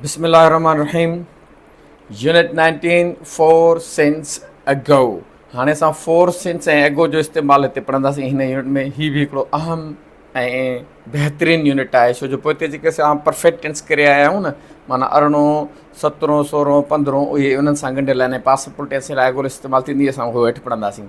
بسم الله الرحمن الرحيم unit nineteen for since ago هاڻي اسان فور سينس ۽ اگو جو استعمال هتي پڙهنداسين هن يونٽ ۾ هي به هڪڙو اهم ۽ بهترين يونٽ آهي ڇو جو پوء هتي جيڪي اسان پرفيڪٽ ٽينس ڪري آيا آهيون نه معنی ارڙهون سترهون سورهون پندرهون اهي انهن سان ڳنڍيل آهن ۽ پاسپورٽ ٽينس لاء اگو استعمال ٿيندي اسان اهو هيٺ پڙهنداسين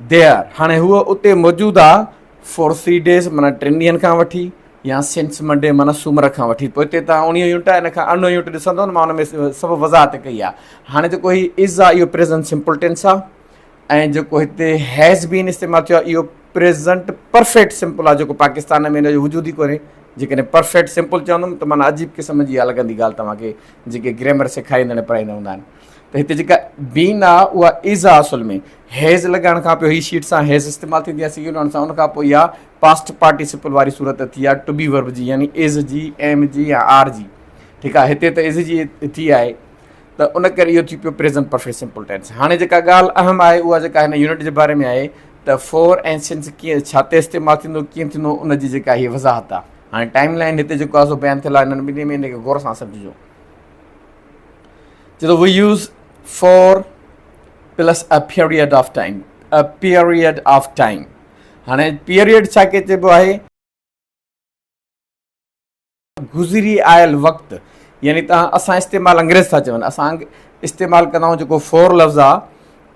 دير هاڻي هوء اتي موجود آ فور سي ڊيز معنيٰ ٽن ڏينهن کان وٺي يا سنس منڊي معنيٰ سومر کان وٺي پوء هتي تان اوڻيهون يونٽ آهي ان کان ارڙهون يونٽ ڏسندو نه مان ان ۾ سڀ وضاحت ڪئي آ هاڻي جيڪو هي از آ اهو پريزنٽ سمپل ٽينس آ ۽ جيڪو هتي هيز بين استعمال ٿيو آ اهو پريزنٽ پرفيڪٽ سمپل آ جيڪو پاڪستان ۾ ان جو وجود ئي ڪونهي جيڪڏهن پرفيڪٽ سمپل چوندم ته معنيٰ عجيب قسم جي اها لڳندي ڳالهه توهان کي جيڪي گريمر سيکاريندڙ ۽ پڙهائيندڙ هوندا آهن ته هتي جيڪا بين آ اها از آ اصل ۾ هيز لڳائڻ کان پوء هي شيٽ سان هيز استعمال ٿيندي آ سيون لهڻ سان ان کان پوء اها پاسٽ پارٽيسپل واري صورت ٿي آ ٽو بي ورب جي يعني از جي ايم جي يا آر جي ٺيڪ آ هتي ته از جي ٿي آهي ته ان ڪري اهو ٿي پيو پريزنٽ پرفيڪٽ سمپل ٽينس هاڻي جيڪا ڳالهه اهم آهي اها جيڪا هن يونٽ جي باري ۾ آهي ته فور ۽ سنس ڪيئن ڇا تي استعمال ٿيندو ڪيئن ٿيندو ان جي جيڪا هي وضاحت آ هاڻي ٽائيم لائين هتي جيڪو آ سو بيان ٿيل آ هنن ٻنهي ۾ ان کي غور سان سمجهجو جي ته we use for plus a period of time a period of time هاڻي پيريڊ ڇا کي چئبو آهي گذري آيل وقت يعني تان اسان استعمال انگريز ٿا چون اسان استعمال ڪندا آهيون جيڪو فور لفظ آ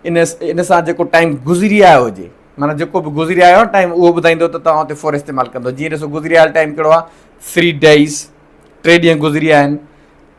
ان ان سان جيڪو ٽائيم گذري آيو هجي معنی جيڪو به گذري آيو ٽائيم اهو ٻڌائيندو ته تان اتي فور استعمال ڪندو جيئن ڏسو گذري آيل ٽائيم ڪهڙو آ 3 ڊيز ٽي ڏينهن گذري آيا آهن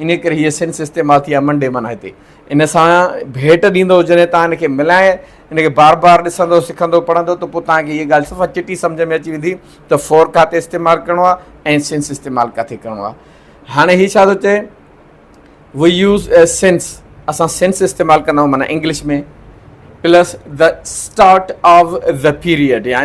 انهيء ڪري هيء سن سستيماٿي يا منڊي معنيٰ هتي ان سان ڀيٽ ڏيندو جڏهن توهان ان کي ملائي ان کي بار بار ڏسندو سکندو پڙهندو ته پوء توهان کي هيء ڳالهه صفا چٽي سمجهه ۾ اچي ويندي ته فور ڪاتي استعمال ڪرڻو آهي ۽ سنس استعمال ڪاٿي ڪرڻو آهي هاڻي هي ڇا ٿو چئي وي يوز اي سنس اسان سنس استعمال ڪندا آهيون معنيٰ English ۾ plus the start of the period يا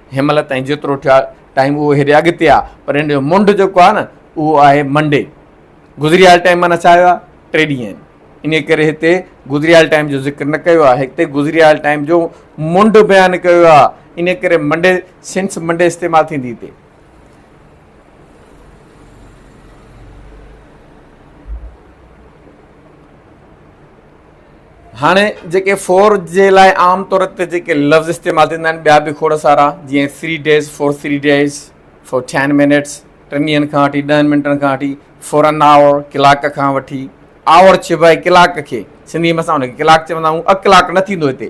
هن مهل تائين جيترو ٺهيو آهي ٽائيم اهو هيڏي اڳتي آهي پر هن جو منڊ جيڪو آهي نه اهو آهي منڊي گذريال ٽائيم معنيٰ ڇا هيا ٽي ڏينهن آهن ان ڪري هتي گذريال ٽائيم جو ذڪر نه ڪيو آهي هتي گذريال ٽائيم جو منڊ بيان ڪيو آهي ان ڪري منڊي سنس منڊي استعمال ٿيندي هتي هاڻي جيڪي فور جي لاء عام طور تي جيڪي لفظ استعمال ٿيندا آهن ٻيا به کوڙ سارا جيئن three days for three days for ten minutes ٽن ڏينهن کان وٺي ڏهن منٽن کان وٺي فور ان آور ڪلاڪ کان وٺي آور چئبو آهي ڪلاڪ کي سنڌي ۾ اسان ان کي ڪلاڪ چوندا آهيون اڪلاڪ نه ٿيندو هتي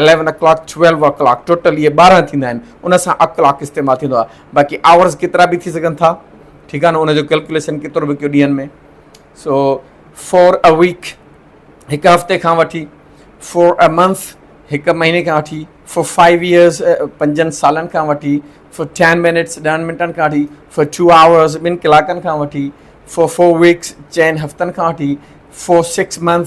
Eleven o'clock Twelve o'clock total اهي ٻارهن ٿيندا آهن ان سان O'clock استعمال ٿيندو آهي باقي Hours ڪيترا به ٿي سگهن ٿا ٺيڪ آهي نه ان جو ڪيلڪوليشن ڪيترو به ڪيو ڏينهن ۾ سو فور ا ويڪ هڪ هفتي کان وٺي فور ا منٿ هڪ مهيني کان وٺي فور فائيو ايئرس پنجن سالن کان وٺي فور ٽين منٽس ڏهن منٽن کان وٺي فور ٽو آورس ٻن ڪلاڪن کان وٺي فور فور ويڪس چئن هفتن کان وٺي فور سڪس منٿ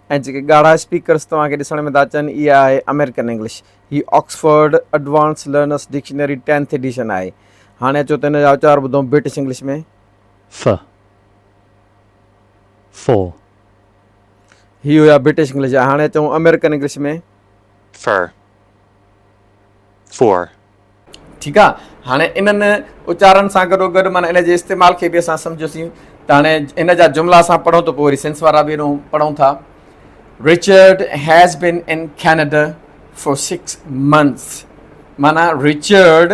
۽ جيڪي ڳاڙها اسپيڪرز توهان کي ڏسڻ ۾ ٿا اچن اها آهي آمريڪن انگلش. هي Oxford advance learners dictionary tenth edition آهي. هاڻي اچو ته ان جا اچار ٻڌون برٽش انگلش ۾. ف For هي هيا برٽش انگلش جا. هاڻي اچون آمريڪن انگلش ۾. Fur for. ٺيڪ آ هاڻي انهن اچارن سان گڏو گڏ معنيٰ ان جي استعمال کي به اسان سمجهيوسين ته هاڻي هن جا جملا اسان پڙهون ته پوء وري سينس وارا به انهو پڙهون ٿا Richard has been in Canada for six months معنيٰ Richard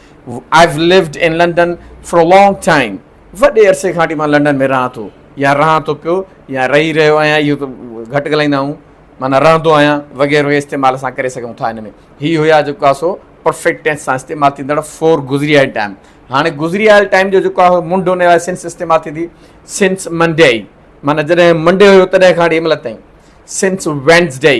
I've lived in London for a long time وڏي عرصي کان وٺي مان لنڊن ۾ رهان ٿو يا رهان ٿو پيو يا رهي رهيو آهيان اهو ته گهٽ ڳالهائيندا آهيون معنيٰ رهندو آهيان وغيره وغيره استعمال اسان ڪري سگهون ٿا هن ۾ هي هيا جيڪو آهي سو پرفيڪٽ ٽينس سان استعمال ٿيندڙ فور گذري آيل ٽائم هاڻي گذري آيل ٽائم جو جيڪو آهي منڊ ان لاء سنس استعمال ٿيندي سنس منڊي معنيٰ جڏهن منڊي هيو تڏهن کان وٺي مل تائين سنس وينسڊي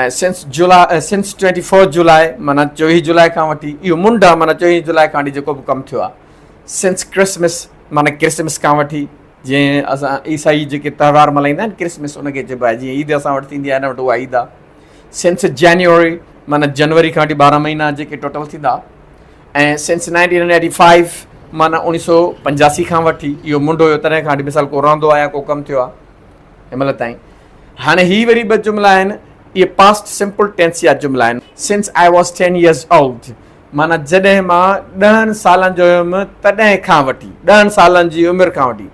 ۽ سنس جولاء Since Twenty Four July معنيٰ چويهه جولاء کان وٺي اهو منڊا معنيٰ چويهه جولاء کان وٺي جيڪو به ڪم ٿيو آهي Since Christmas معنيٰ ڪرسمس کان وٺي جيئن اسان عيسائي جيڪي تهوار ملهائيندا آهن ڪرسمس ان کي چئبو آهي جيئن عيد اسان وٽ ٿيندي آهي هن وٽ اها عيد آهي Since January معنيٰ جنوري کان وٺي ٻارهن مهينا جيڪي ٽوٽل ٿيندا ۽ Since Nineteen Hundred Eighty Five معنيٰ اوڻيهه سو پنجاسي کان وٺي اهو منڊو هيو تڏهن کان وٺي مثال ڪو رهندو آهي يا ڪو ڪم ٿيو آهي هن مهل تائين. هاڻي هي وري ٻه جملا آهن. اهي پاسٽ سمپل ٽينس جا جملا آهن. Since I was ten years old معنيٰ جڏهن مان ڏهن سالن جو هيم تڏهن کان وٺي، ڏهن سالن جي عمر کان وٺي.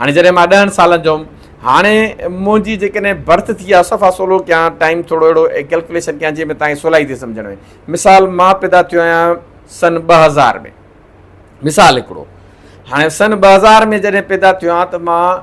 هاڻي جڏهن مان ڏهن سالن جو هيم. هاڻي منهنجي جيڪڏهن برٿ ٿي آهي صفا سولو ڪيان ٽائيم ٿورو اهڙو ڪيلڪوليشن ڪيان جنهن ۾ تهان کي سولائي ٿئي سمجهڻ ۾. مثال مان پيدا ٿيو آهيان سن ٻه هزار ۾. مثال هڪڙو. هاڻي سن ٻه هزار ۾ جڏهن پيدا ٿيو آهيان ته مان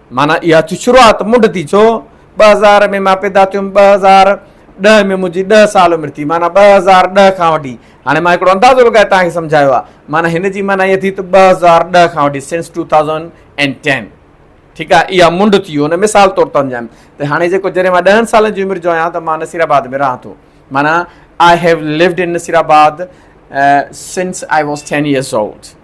معنيٰ اها ٿي شروعات منڍ ٿي ڇو ٻه هزار ۾ مان پيدا ٿيم ٻه هزار ڏهه ۾ منهنجي ڏهه سال عمر ٿي معنيٰ ٻه هزار ڏهه کان وٺي هاڻي مان هڪڙو اندازو لڳائي توهان کي سمجهايو آهي معنيٰ هن جي معنيٰ اها ٿي ته ٻه هزار ڏهه کان وٺي since two thousand and ten ٺيڪ آهي اها منڍ ٿي هن مثال طور ته سمجهايم ته هاڻي جيڪو جڏهن مان ڏهن سالن جي عمر جو آهيان ته مان نصير آباد ۾ رهان ٿو معنيٰ آء هيو load in Nasirabad since I was ten years old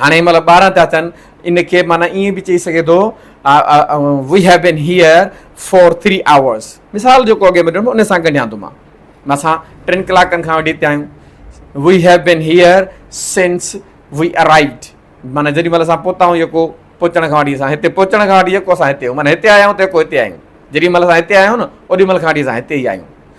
هاڻي هن مهل ٻارهن ٿيا اٿن، ان کي معنيٰ ائين به چئي سگهي ٿو، we have been here for three hours. مثال جيڪو اڳي ۾ ڏنو ان سان ڳنڍيان ٿو مان. اسان ٽن ڪلاڪن کان وٺي هتي آهيون. وي هيو بين هيئر سنس وي ارائيوڊ. معنيٰ جيڏي مهل اسان پهتا آهيون يڪو پهچڻ کان وٺي اسان هتي پهچڻ کان وٺي يڪو اسان هتي آهيون معنيٰ هتي آيا آهيون ته يڪو هتي آهيون. جيڏي مهل اسان هتي آيا آهيون نه اوڏي مهل کان وٺي اسان هتي ئي آهيون.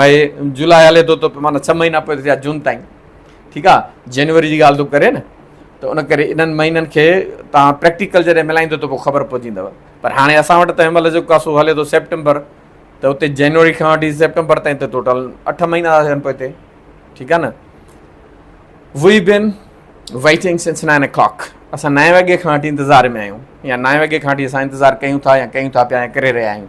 مئي جولاء هلي ٿو ته معنيٰ ڇهه مهينا پوء ٿيا جون تائين ٺيڪ آ جنوري جي ڳالهه ٿو ڪري نه ته ان ڪري انهن مهينن کي توهان پريڪٽيڪل جڏهن ملائيندو ته پوء خبر پوجيندو پر هاڻي اسان وٽ ته هن مهل جيڪو سو هلي ٿو سيپٽمبر ته اتي جنوري کان وٺي سيپٽمبر تائين ته ٽوٽل اٺ مهينا ٿا ٿين پوء اتي ٺيڪ آ نه we been waiting since nine o'clock اسان نائين وڳي کان وٺي انتظار ۾ آهيون يا نائين وڳي کان وٺي اسان انتظار ڪيون ٿا يا ڪيون ٿا پيا يا ڪري رهيا آهيون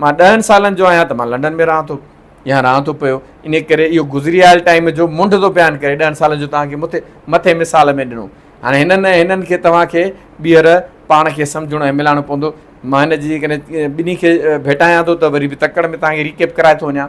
مان ڏهن سالن جو آهيان ته مان لنڊن ۾ رهان ٿو يا رهان ٿو پيو، انهيء ڪري اهو گذري آيل ٽائيم جو منڍدو بيان ڪري ڏهن سالن جو توهان کي مٿي مٿئين مثال ۾ ڏنو. هاڻي هنن ۽ هنن کي توهان کي ٻيهر پاڻ کي سمجهڻو ۽ ملاڻو پوندو. مان هن جي جيڪڏهن ٻنهي کي ڀيٽايان ٿو ته وري به تڪڙ ۾ توهان کي ريڪيپ ڪرائي ٿو وڃان.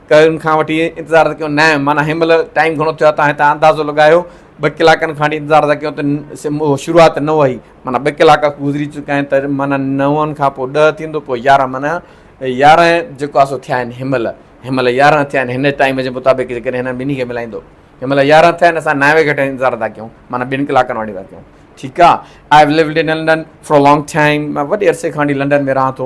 ڪرن کان وٺي انتظار ته ڪيو نائين معنيٰ هن مهل ٽائيم گهڻو ٿيو آهي تان هتان اندازو لڳايو ٻه ڪلاڪن کان وٺي انتظار ته ڪيو ته شروعات نو هئي معنيٰ ٻه ڪلاڪ گذري چڪا آهن ته معنيٰ نون کان پوء ڏهه ٿيندو پوء يارهن معنيٰ يارهن جيڪو آهي سو ٿيا آهن هن مهل هن مهل يارهن ٿيا آهن هن ٽائيم جي مطابق جيڪڏهن هنن ٻنهي کي ملائيندو هن مهل يارهن ٿيا آهن اسان نائين وڳي کان انتظار ٿا ڪيون معنيٰ ٻن ڪلاڪن واني ٿا ڪيون ٺيڪ آهي I have lived in London for a long time مان وڏي عرصي کان وٺي لنڊن ۾ رهان ٿو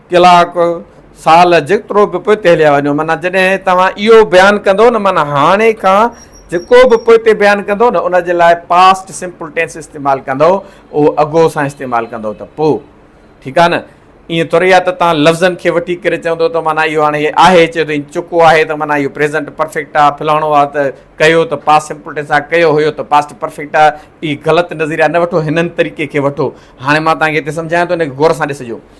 ڪلاڪ، سال جيترو به پوئتي هليا وڃو معنيٰ جڏهن توهان اهو بيان ڪندو نه معنيٰ هاڻي کان جيڪو به پوئتي بيان ڪندو نه ان جي لاء پاسٽ سمپل ٽينس استعمال ڪندو اهو اگهو سان استعمال ڪندو ته پوء ٺيڪ آهي نه ائين ٿوري آهي ته تان لفظن کي وٺي ڪري چوندو ته معنيٰ اهو هاڻي آهي چيو ته چڪو آهي ته معنيٰ اهو پريزنٽ پرفيڪٽ آهي فلاڻو آهي ته ڪيو ته پاس سمپل ٽينس آهي ڪيو هيو ته پاسٽ پرفيڪٽ آهي هي غلط نظريا نه وٺو هنن طريقي کي وٺو هاڻي مان تان کي هتي سمجهايان ٿو ان کي غور سان ڏسجو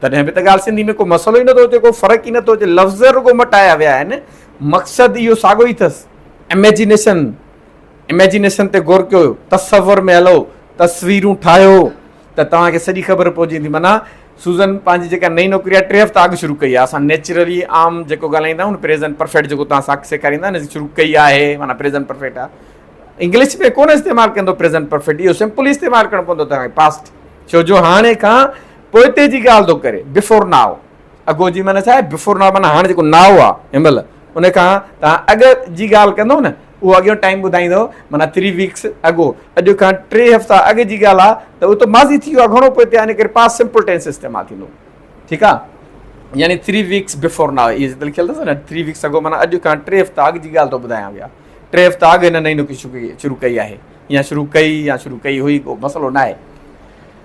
تڏهن به ته ڳالهه سنڌي ۾ ڪو مسئلو ئي نٿو اچي، ڪو فرق ئي نٿو اچي، لفظ رڳو مٽايا ويا آهن، مقصد اهو ساڳو ئي اٿس، Imagination، Imagination تي غور ڪيو، تصور ۾ هلو، تصويرون ٺاهيو ته توهان کي سڄي خبر پئجي ويندي، معنيٰ سوزن پنهنجي جيڪا نئين نوڪري آهي ٽي هفتا اڳ شروع ڪئي آهي، اسان نيچرلي عام جيڪو ڳالهائيندا آهيون پريزنٽ پرفيڪٽ جيڪو توهان ساکي سيکاريندا آهن شروع ڪئي آهي معنيٰ پريزنٽ پرفيڪٽ آهي، انگلش ۾ ڪونه استعمال ڪندو پريزنٽ پرفيڪٽ اهو سمپل ئي استعمال ڪرڻو پوندو توهان کي پاسٽ، ڇو جو هاڻي کان پوئتي جي ڳالهه ٿو ڪري، Before Now. اڳو جي معنيٰ ڇا آهي؟ Before Now معنيٰ هاڻ جيڪو Now آهي، هن مهل، ان کان توهان اڳ جي ڳالهه ڪندو نه، اهو اڳيون ٽائيم ٻڌائيندو، معنيٰ Three Weeks Ago، اڄ کان ٽي هفتا اڳ جي ڳالهه آهي ته اهو ته ماضي ٿي ويو آهي، گهڻو پوئتي آهي، ان ڪري Past Simple Tense استعمال ٿيندو. ٺيڪ آهي؟ يعني Three Weeks Before Now اهي جتي لکيل اٿس نه، Three Weeks Ago معنيٰ اڄ کان ٽي هفتا اڳ جي ڳالهه ٿو ٻڌايان ويا. ٽي هفتا اڳ هن نئين نوڪري شروع ڪئي آهي، يا شروع ڪئي يا شروع ڪئي هئي، ڪو مسئلو ناهي.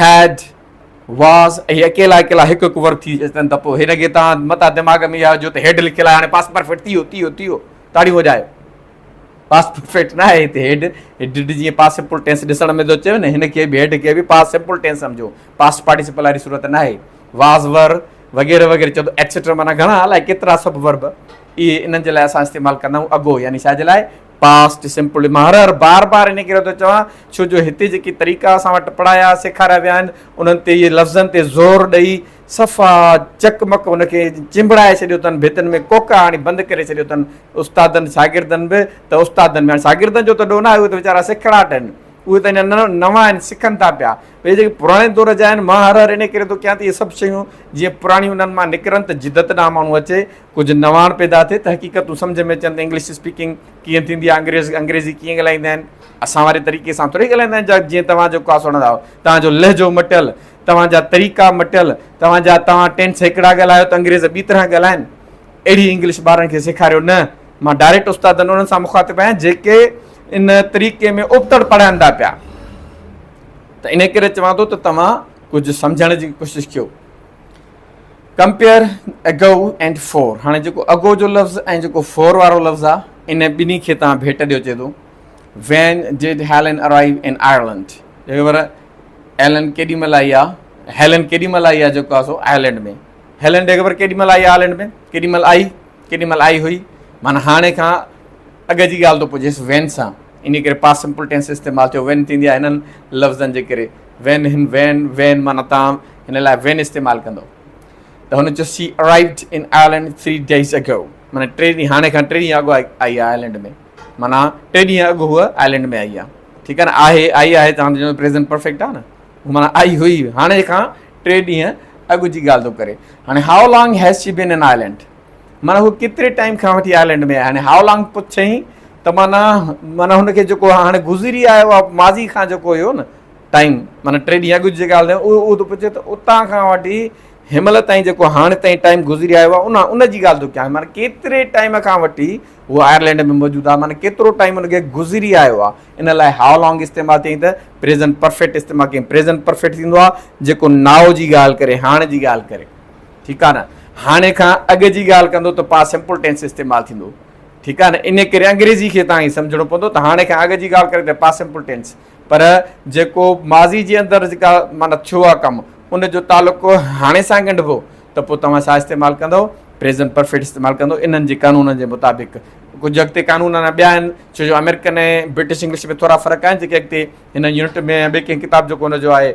هيڊ، واز اهي اڪيلا اڪيلا هڪ هڪ ورڊ ٿي اچن ته پوء هن کي تان متان دماغ ۾ اها جو ته هيڊ لکيل آهي هاڻي پاسٽ پرفيڪٽ ٿي ويو ٿي ويو ٿي ويو تاڙيون وڄايو. پاسٽ پرفيڪٽ نه آهي هتي هيڊ هيڊڊ جيئن پاسٽ سمپل ٽينس ڏسڻ ۾ ٿو اچيو نه هن کي به هيڊ کي به پاسٽ سمپل ٽينس سمجهو پاسٽ پارٽيسپل واري صورت نه آهي واز ور وغيره وغيره چوندو ايٽسيٽرا معنيٰ گهڻا الائي ڪيترا سڀ ورب اهي انهن جي لاء اسان استعمال ڪندا آهيون اگو يعني ڇا جي لاء Past Simple مان هر هر بار بار انهي ڪري ٿو چوان ڇو جو هتي جيڪي طريقا اسان وٽ پڙهايا سيکاريا ويا آهن انهن تي اهي لفظن تي زور ڏئي صفا چڪ مڪ ان کي چنبڙائي ڇڏيو اٿن ڀتن ۾ ڪوڪا هڻي بند ڪري ڇڏيو اٿن استادن شاگردن به ته استادن ۾ شاگردن جو ته ڏوهه ناهي اهي ته ويچارا سکڙاٽ آهن اهي ته اڃا نوان آهن سکن ٿا پيا اهي جيڪي پراڻي دور جا آهن مان هر هر انهي ڪري ٿو ڪيان ته اهي سڀ شيون جيئن پراڻيون انهن مان نڪرن ته جدت ڏانهن ماڻهو اچي ڪجهه نواڻ پيدا ٿئي ته حقيقتون سمجهه ۾ اچن ته انگلش اسپيڪنگ ڪيئن ٿيندي آهي، انگريز انگريزي ڪيئن ڳالهائيندا آهن، اسان واري طريقي سان ٿوري ڳالهائيندا آهن جا جيئن توهان جو ڪا سڻندا آهيو، توهان جو لهجو مٽيل، توهان جا طريقا مٽيل، توهان جا توهان ٽينس هڪڙا ڳالهايو ته انگريز ٻي طرح ڳالهائين، اهڙي انگلش ٻارن کي سيکاريو نه، مان ڊائريڪٽ استادن انهن سان مخاطب آهيان جيڪي ان طريقي ۾ ابتڙ پڙهائين ٿا پيا ته انهي ڪري چوان ٿو ته توهان ڪجهه سمجهڻ جي ڪوشش ڪيو. ڪمپيئر اگو اينڊ فور هاڻي جيڪو اگو جو لفظ ۽ جيڪو فور وارو لفظ آ ان ٻنهي کي تان ڀيٽ ڏيو چي ٿو when did Helen arrive in Ireland جيڪي ور ايلن ڪيڏي مهل آئي آ هيلن ڪيڏي مهل آئي آ جيڪو آ سو آئرلنڊ ۾ هيلن جيڪي ور ڪيڏي مهل آئي آئرلنڊ ۾ ڪيڏي مهل آئي ڪيڏي مهل آئي هئي معنی هاڻي کان اڳ جي ڳالهه ٿو پجيس وين سان، انهيء ڪري پاسٽ سمپل ٽينس استعمال ٿيو. وين ٿيندي آهي هنن لفظن جي ڪري. وين هن وين وين معنيٰ توهان هن لاء وين استعمال ڪندؤ ته هن چيو she arrived in Ireland three days ago معنيٰ ٽي ڏينهن هاڻي کان ٽي ڏينهن اڳ آئي آهي آئرلينڊ ۾ معنيٰ ٽي ڏينهن اڳ هوء آئرلينڊ ۾ آئي آهي ٺيڪ آهي نه آهي آئي آهي ته هاڻي پريزنٽ پرفيڪٽ آهي نه معنيٰ آئي هئي هاڻي کان ٽي ڏينهن اڳ جي ڳالهه ٿو ڪري هاڻي how long has she been in Ireland معنيٰ هوء ڪيتري ٽائيم کان وٺي آئرلينڊ ۾ آهي هاڻي هاء لانگ پڇيائين ته معنيٰ معنيٰ هن کي جيڪو هاڻي گذري آيو آهي ماضي کان جيڪو هيو نه ٽائيم معنيٰ ٽي ڏينهن اڳ جي ڳالهه اهو اهو ٿو پڇي ته اتان کان وٺي هنمهل تائين جيڪو هاڻي تائين ٽائيم گذري آيو آهي ان ان جي ڳالهه ٿو ڪيائين معنيٰ ڪيتري ٽائيم کان وٺي هوء آئرلينڊ ۾ موجود آهي معنيٰ ڪيترو ٽائيم هن کي گذري آيو آهي ان لاء هاء لانگ استعمال ٿيائين ته پريزنٽ پرفيڪٽ استعمال ڪيائين پريزنٽ پرفيڪٽ ٿيندو آهي جيڪو ناء جي ڳالهه ڪري هاڻ جي ڳالهه ڪري ٺيڪ آ نه هاڻي کان اڳ جي ڳالهه ڪندو ته پاسٽ سمپل ٽينس استعمال ٿيندو ٺيڪ آ نه انهي ڪري انگريزي کي تهان هي سمجهڻو پوندو ته هاڻي کان اڳ جي ڳالهه ڪري ته پاسٽ سمپل ٽينس پر جيڪو ماضي جي اندر جيڪا معنيٰ ٿيو آ ڪم ان جو تعلق هاڻي سان ڳنڍبو ته پوء توهان ڇا استعمال ڪندو پريزنٽ پرفيڪٽ استعمال ڪندو انهن جي قانونن جي مطابق ڪجهه اڳتي قانون اڃا ٻيا آهن ڇو جو آمريڪن ۽ برٽش انگلش ۾ ٿورا فرق آهن جيڪي اڳتي هن يونٽ ۾ ٻي ڪنهن ڪتاب جيڪو هن جو آهي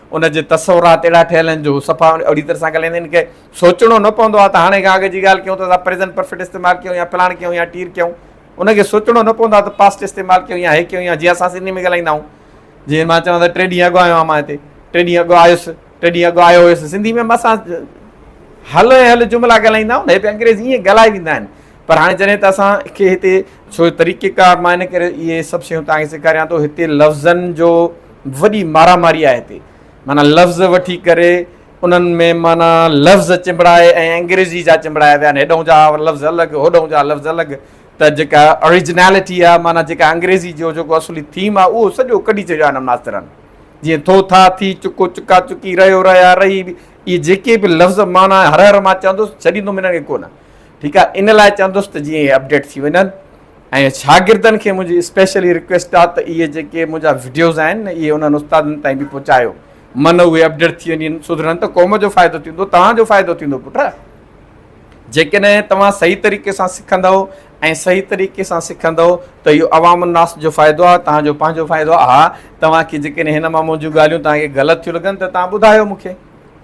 ان جي تصورات اهڙا ٺهيل آهن جو هو صفا اهڙي طرح سان ڳالهائيندا آهن ڪي سوچڻو نه پوندو آهي ته هاڻي کان اڳ جي ڳالهه ڪيون ته اسان پريزنٽ پرفيٽ استعمال ڪيون يا فلاڻ ڪيون يا ٽير ڪيون ان کي سوچڻو نه پوندو آهي ته پاسٽ استعمال ڪيون يا هي ڪيون يا جيئن اسان سنڌي ۾ ڳالهائيندا آهيون جيئن مان چوان ته ٽي ڏينهن اڳ آيو آهيان مان هتي ٽي ڏينهن اڳ آيس ٽي ڏينهن اڳ آيو هيس سنڌي ۾ اسان هل هل جملا ڳالهائيندا آهيون هي به انگريزي ائين ڳالهائي ويندا آهن پر هاڻي جڏهن ته اسان کي هتي سو طريقي ڪار مان ان ڪري اهي سڀ شيون توهان کي سيکاريان ٿو هتي لفظن جو وڏي مارا ماري آهي هتي معنيٰ لفظ وٺي ڪري انهن ۾ معنيٰ لفظ چنبڙائي ۽ انگريزي جا چنبڙايا ويا آهن هيڏهون جا لفظ الڳ هوڏهون جا لفظ الڳ ته جيڪا اوريجنالٽي آهي معنيٰ جيڪا انگريزي جو جيڪو اصولي ٿيم آهي اهو سڄو ڪڍي ڇڏيو آهن ماسترن جيئن ٿو ٿا ٿي چڪو چڪا چڪي رهيو رهيا رهي اهي جيڪي به لفظ معنيٰ هر هر مان چوندوس ڇڏيندوم هنن کي ڪونه ٺيڪ آ ان لاء چوندس ته جيئن اهي اپڊيٽ ٿي وڃن ۽ شاگردن کي منهنجي اسپيشلي رڪويسٽ آ ته اهي جيڪي منهنجا وڊيوز آهن نه اهي انهن استادن تائين به پهچايو من اهي اپڊيٽ ٿي وڃن سڌرن ته قوم جو فائدو ٿيندو توهان جو فائدو ٿيندو پٽ جيڪڏهن توهان صحيح طريقي سان سکندو ۽ صحيح طريقي سان سکندو ته اهو عوام الناس جو فائدو آ توهان جو پنهنجو فائدو آ ها توهان کي جيڪڏهن هن مان منهنجون ڳالهيون توهان کي غلط ٿيون لڳن ته توهان ٻڌايو مون کي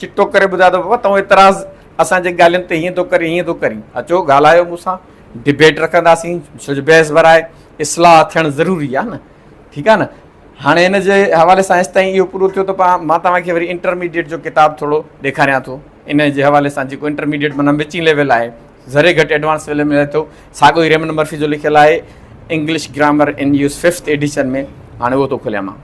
چٽو ڪري ٻڌايو ته بابا تون اعتراض اسان جي ڳالهين تي هيئن ٿو ڪرين هيئن ٿو ڪرين اچو ڳالهايو مون سان ڊبيٽ رکنداسين ڇو جو بحث برائي اصلاح ٿيڻ ضروري آهي نه ٺيڪ آهي نه هاڻي هن جي حوالي سان ايس تائين اهو پورو ٿيو ته مان توهان کي وري انٽرميڊيٽ جو ڪتاب ٿورو ڏيکاريان ٿو ان جي حوالي سان جيڪو انٽرميڊيٽ مانا وچين ليول آهي ذري گهٽ ايڊوانس ليول ملي ٿو ساڳو ئي ريمن مرفي جو لکيل آهي English grammar in use fifth edition ۾ هاڻي اهو ٿو کوليان مان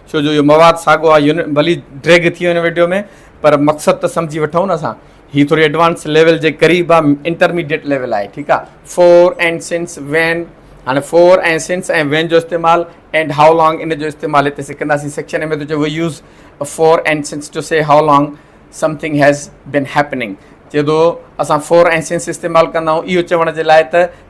ڇو جو اهو مواد ساڳو آهي يونٽ ڀلي ڊريگ ٿي وڃي وڊيو ۾ پر مقصد ته سمجهي وٺون نه اسان هي ٿوري ايڊوانس ليول جي قريب آهي انٽرميڊيٽ ليول آهي ٺيڪ آهي فور اينڊ سنس وين هاڻي فور ۽ سنس ۽ وين جو استعمال اينڊ هاء لانگ ان جو استعمال هتي سکنداسين سيڪشن ۾ ٿو چئي we use for and since to say how long something has been happening چئي ٿو اسان فور ۽ سنس استعمال ڪندا آهيون اهو چوڻ جي لاء ته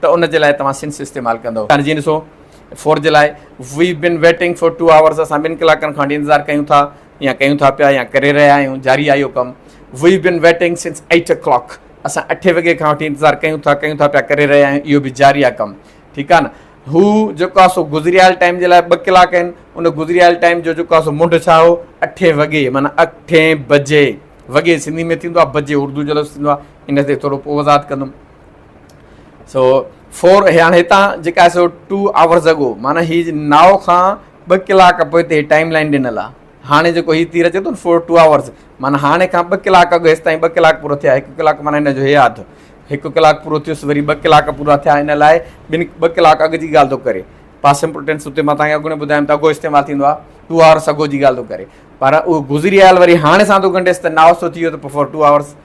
ته ان جي لاء توهان سنس استعمال ڪندؤ. هاڻي جيئن ڏسو فور جي لاء We've been waiting for two hours اسان ٻن ڪلاڪن کان وٺي انتظار ڪيون ٿا يا ڪيون ٿا پيا يا ڪري رهيا آهيون جاري آهي اهو ڪم We've been waiting since eight o'clock اسان اٺين وڳي کان وٺي انتظار ڪيون ٿا ڪيون ٿا پيا ڪري رهيا آهيون اهو به جاري آهي ڪم ٺيڪ آهي نه هو جيڪو آهي سو گذريل ٽائيم جي لاء ٻه ڪلاڪ آهن ان گذريل ٽائيم جو جيڪو آهي سو منڍ ڇا هو اٺين وڳي معنيٰ اٺين بجي وڳي سنڌي ۾ ٿيندو آهي بجي اردو جو لفظ ٿيندو آهي ان تي ٿورو پوء وضاحت ڪندم. سو فور هاڻي هتان جيڪا سو ٽو آورز اگو معنی هي ناو کان ٻه ڪلاڪ پوء تي ٽائيم لائن ڏنل آهي هاڻي جيڪو هي تير اچي ٿو فور ٽو آورز معنی هاڻي کان ٻه ڪلاڪ اڳ هيس تائين ٻه ڪلاڪ پورو ٿيا هڪ ڪلاڪ معنی هن جو هي آڌ هڪ ڪلاڪ پورو ٿيس وري ٻه ڪلاڪ پورا ٿيا ان لاء ٻن ٻه ڪلاڪ اڳ جي ڳالھ ٿو ڪري پاس امپورٽنس اتي ماں تاکي اڳوڻي ٻڌايم ته اڳو استعمال ٿيندو آهي ٽو آورس اڳو جي ڳالھ ٿو ڪري پر اهو گذري آيل وري هاڻي سان ٿو ڳنڍيس ته ناو سو ٿي ويو ته فور ٽو آورس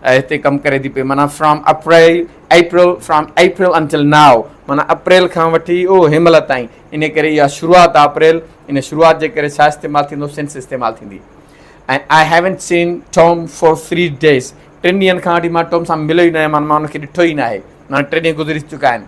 اي هتي ڪم ڪري ٿي پئي معنيٰ from April April from April until now معنيٰ اپريل کان وٺي او هن مهل تائين ان ڪري اها شروعات آهي اپريل ان شروعات جي ڪري ڇا استعمال ٿيندو سنس استعمال ٿيندي ۽ I haven't seen Tom for three days ٽن ڏينهن کان وٺي مان ٽام سان مليو ئي نه آهي معنيٰ مان ان کي ڏٺو ئي نه آهي معنيٰ ٽي ڏينهن گذري چڪا آهن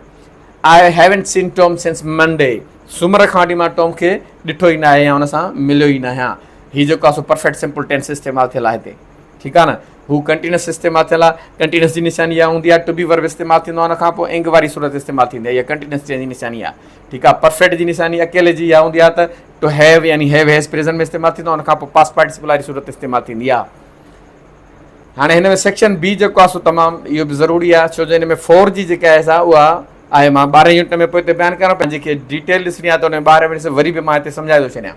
I haven't seen Tom since Monday سومر کان وٺي مان ٽام کي ڏٺو ئي نه آهي يا ان سان مليو ئي نه آهيان هي جيڪو آهي سو پرفيڪٽ سمپل ٽينس استعمال ٿيل آهي هتي ٺيڪ آ نه هو ڪنٽينس استعمال ٿيل آ ڪنٽينس جي نشاني اها هوندي آ ٽو بي ورب استعمال ٿيندو آ ان کان پوء انگ واري صورت استعمال ٿيندي آ اها ڪنٽينس جي نشاني آ ٺيڪ آ پرفيڪٽ جي نشاني اڪيلي جي اها هوندي آ ته ٽو هيو يعني هيو هيز پريزنٽ ۾ استعمال ٿيندو آ ان کان پوء پاس پارٽيسپل واري صورت استعمال ٿيندي آ هاڻي هن ۾ سيڪشن بي جيڪو آ سو تمام اهو به ضروري آ ڇو جو ان ۾ فور جي جيڪا آهي سا اها آهي مان ٻارهين يونٽ ۾ پوء ته بيان ڪريان پنهنجي کي ڊيٽيل ڏسڻي آ ته ان ٻارهين وري به مان هتي سمجهائي ٿو ڇڏيان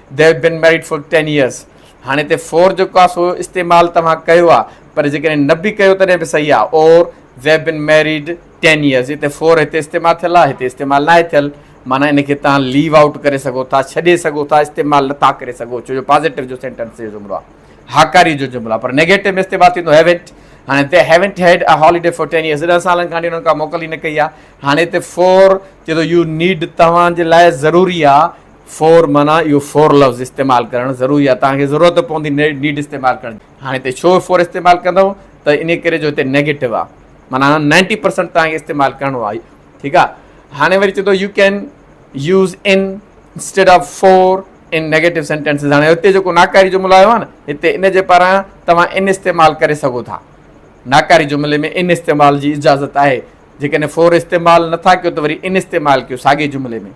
They have been married for ten years. هاڻي هتي for جيڪو آهي سو استعمال توهان ڪيو آهي پر جيڪڏهن نه به ڪيو تڏهن به صحيح آهي اور They have been married ten years. هتي for هتي استعمال ٿيل آهي هتي استعمال ناهي ٿيل معنيٰ ان کي توهان ليو آئوٽ ڪري سگهو ٿا ڇڏي سگهو ٿا استعمال نٿا ڪري سگهو ڇو جو پازيٽو جو سينٽنس جو جملو آهي هاڪاري جو جملو آهي پر نيگيٽو ۾ استعمال ٿيندو هيونٽ هاڻي they haven't had a holiday for ten years ڏهه سالن کان انهن کا موڪل ئي نه ڪئي آهي هاڻي هتي فور چئي ٿو يو نيڊ توهان جي لاء ضروري آهي فور معنيٰ اهو فور لفظ استعمال ڪرڻ ضروري آهي توهان کي ضرورت پوندي نيڊ استعمال ڪرڻ جي هاڻي هتي ڇو فور استعمال ڪندو ته انهي ڪري جو هتي نيگيٽو آهي معنيٰ نائنٽي پرسنٽ توهان کي استعمال ڪرڻو آهي ٺيڪ آهي هاڻي وري چئي ٿو you can use in instead of for in negative sentences هاڻي هتي جيڪو ناڪاري جملو آيو آهي نه هتي ان جي پاران توهان ان استعمال ڪري سگهو ٿا ناڪاري جملي ۾ ان استعمال جي اجازت آهي جيڪڏهن فور استعمال نٿا ڪيو ته وري ان استعمال ڪيو ساڳي جملي ۾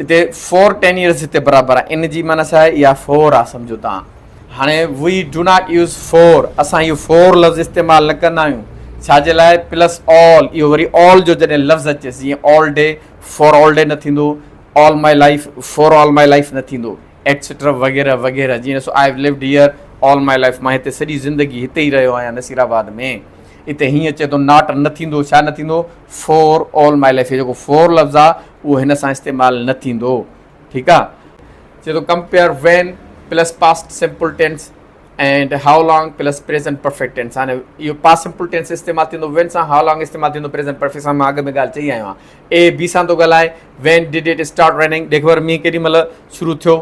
هتي فور ٽين يئرز هتي برابر آهي ان جي معنيٰ ڇا آهي اها فور آهي سمجهو توهان هاڻي we do not use for اسان اهو فور لفظ استعمال نه ڪندا آهيون ڇا جي لاء پلس آل اهو وري آل جو جڏهن لفظ اچيس جيئن all day for all day نه ٿيندو all my life for all my life نه ٿيندو ايٽسيٽرا وغيره وغيره جيئن ڏسو I have lived here all my life مان هتي سڄي زندگي هتي ئي رهيو آهيان نصير آباد ۾ هتي هيئن اچي ٿو ناٽ نه ٿيندو ڇا نه ٿيندو فور آل ماء لائيف هي جيڪو فور لفظ آ اهو هن سان استعمال نه ٿيندو ٺيڪ آ چي ٿو compare when plus past simple tense and how long plus present perfect tense هاڻي اهو پاسٽ سمپل ٽينس استعمال ٿيندو وين سان هائو لانگ استعمال ٿيندو پريزنٽ پرفيڪٽ سان مان اڳ ۾ ڳالهه چئي آيو آهيان اي بي سان ٿو ڳالهائي when did it start raining ڏيک ور مينهن ڪيڏي مهل شروع ٿيو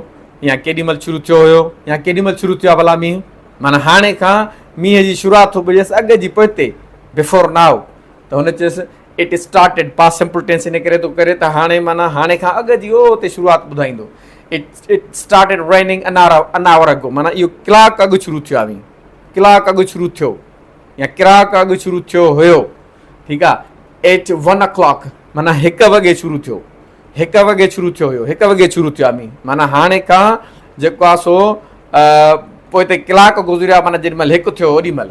يا ڪيڏي مهل شروع ٿيو هيو يا ڪيڏي مهل شروع ٿيو آ ڀلا مينهن معنيٰ هاڻي کان مينهن جي شروعات ٿو ٻريس اڳ جي پوئتي بفور ناء ته هن چيس، It started، Past Simple Tense ان ڪري ٿو ڪري ته هاڻي معنيٰ هاڻي کان اڳ جي او تي شروعات ٻڌائيندو. It It started raining an hour an hour ago معنيٰ اهو ڪلاڪ اڳ شروع ٿيو آهي. ڪلاڪ اڳ شروع ٿيو يا ڪراڪ اڳ شروع ٿيو هيو. ٺيڪ آهي. It one o'clock معنيٰ هڪ وڳي شروع ٿيو. هڪ وڳي شروع ٿيو هيو. هڪ وڳي شروع ٿيو آهي معنيٰ هاڻي کان جيڪو آهي سو پوء تي ڪلاڪ گذريو آهي معنيٰ جيڏي مهل هڪ ٿيو اوڏي مهل.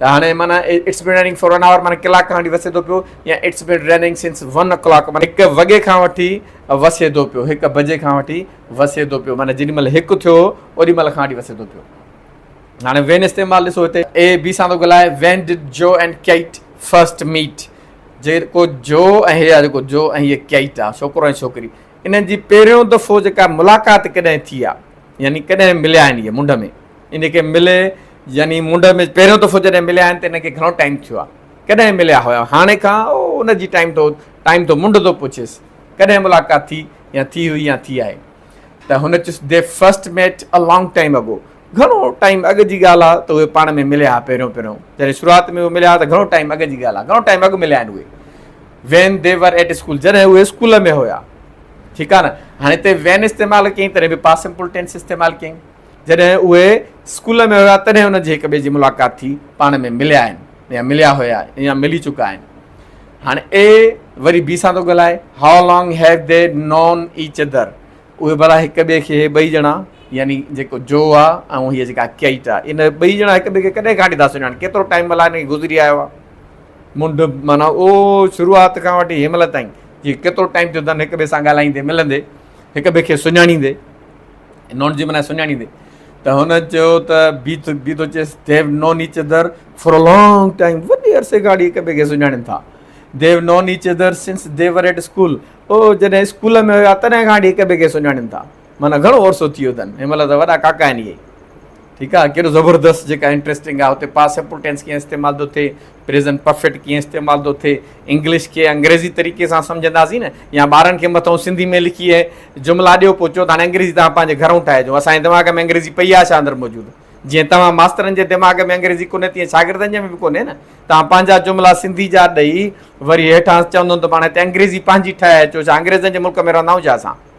ته هاڻي معنيٰ it's been raining for one hour معنيٰ ڪلاڪ کان وٺي وسي ٿو پيو يا it's been raining since one hour ڪلاڪ معنيٰ هڪ وڳي کان وٺي وسي ٿو پيو هڪ بجي کان وٺي وسي ٿو پيو معنيٰ جيڏي مهل هڪ ٿيو اوڏي مهل کان وٺي وسي ٿو پيو هاڻي وين استعمال ڏسو هتي اي بي سان ٿو ڳالهائي when did Joe and Kate first meet جيڪو جو ۽ هي آ جيڪو جو ۽ هي ڪيٽ آ ڇوڪرو ۽ ڇوڪري انهن جي پهريون دفعو جيڪا ملاقات ڪڏهن ٿي آ يعني ڪڏهن مليا آهن اهي منڍ ۾ ان کي ملي يعني منڍ ۾ پهريون دفعو جڏهن مليا آهن ته انهن کي گهڻو ٽائيم ٿيو آ ڪڏهن مليا هيا هاڻي کان او ان جي ٽائيم ٿو ٽائيم ٿو منڍ ٿو پڇيس ڪڏهن ملاقات ٿي يا ٿي هئي يا ٿي آهي ته هن chase the first met a long time ago گهڻو ٽائيم اڳ جي ڳالهه آ ته اهي پاڻ ۾ مليا ها پهريون پهريون جڏهن شروعات ۾ اهي مليا ها ته گهڻو ٽائيم اڳ جي ڳالهه آ گهڻو ٽائيم اڳ مليا آهن اهي when they were at school جڏهن اهي اسڪول ۾ هيا ٺيڪ آ نه هاڻي هتي وين استعمال ڪيئي تڏهن به پاس سمپل ٽينس استعمال ڪيئي جڏهن اهي اسڪول ۾ هيا تڏهن انهن جي هڪ ٻئي جي ملاقات ٿي پاڻ ۾ مليا آهن يا مليا هيا يا ملي چڪا آهن هاڻي اي وري بي سان ٿو ڳالهائي how long have they known each other اهي ڀلا هڪ ٻئي کي ٻئي ڄڻا يعني جيڪو جو آ ۽ هي جيڪا ڪيٽ آ ان ٻئي ڄڻا هڪ ٻئي کي ڪڏهن کان وٺي ٿا سڃاڻن ڪيترو ٽائيم ملائي گذري آيو آ منڍ معنيٰ او شروعات کان وٺي هن مهل تائين جي ڪيترو ٽائيم ٿيو اٿن هڪ ٻئي سان ڳالهائيندي ملندي هڪ ٻئي کي سڃاڻيندي نون جي معنيٰ سڃاڻيندي ته هن چيو ته بي ٿو بي ٿو چيس the have known each other for a long time وڏي عرصي کان هڪ ٻئي کي سڃاڻين ٿا the have known each other since they were at school او جڏهن اسڪول ۾ هيا تڏهن کان هڪ ٻئي کي سڃاڻين ٿا معنيٰ گهڻو عرصو ٿي ويو اٿن. هن مهل ته وڏا ڪاڪا آهن اهي. ٺيڪ آهي. ڪيڏو زبردست جيڪا انٽريسٽنگ آهي اتي پاسٽ سمپل ٽينس ڪيئن استعمال ٿو ٿئي، پريزنٽ پرفيڪٽ ڪيئن استعمال ٿو ٿئي، انگلش کي انگريزي طريقي سان سمجهنداسين نه يا ٻارن کي مٿئون سنڌي ۾ لکي جملا ڏيو پوء چئو ته هاڻي انگريزي توهان پنهنجي گهرئون ٺاهجو اسان جي دماغ ۾ انگريزي پئي آهي ڇا اندر موجود جيئن توهان ماسترن جي دماغ ۾ انگريزي ڪونهي تيئن شاگردن جي ۾ به ڪونهي نه توهان پنهنجا جملا سنڌي جا ڏئي وري هيٺان چوندون ته پاڻ هتي انگريزي پنهنجي ٺاهي اچو ڇا انگريزن جي ملڪ ۾ رهندا آهيون ڇا اسان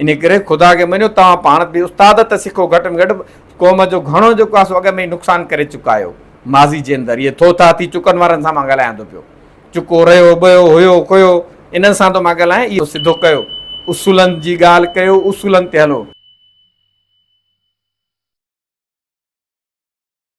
انهيء ڪري خدا کي مڃو، توهان پاڻ به استاد ته سکو، گهٽ ۾ گهٽ قوم جو گهڻو جيڪو آهي سو اڳ ۾ ئي نقصان ڪري چڪا آهيو. ماضي جي اندر اهي ٿو ٿا ٿي چڪن وارن سان مان ڳالهايندو پيو. چڪو رهيو، ٻهيو، هيو، ڪهيو، انهن سان ٿو مان ڳالهايان، اهو سڌو ڪيو. اصولن جي ڳالهه ڪيو، اصولن تي هلو.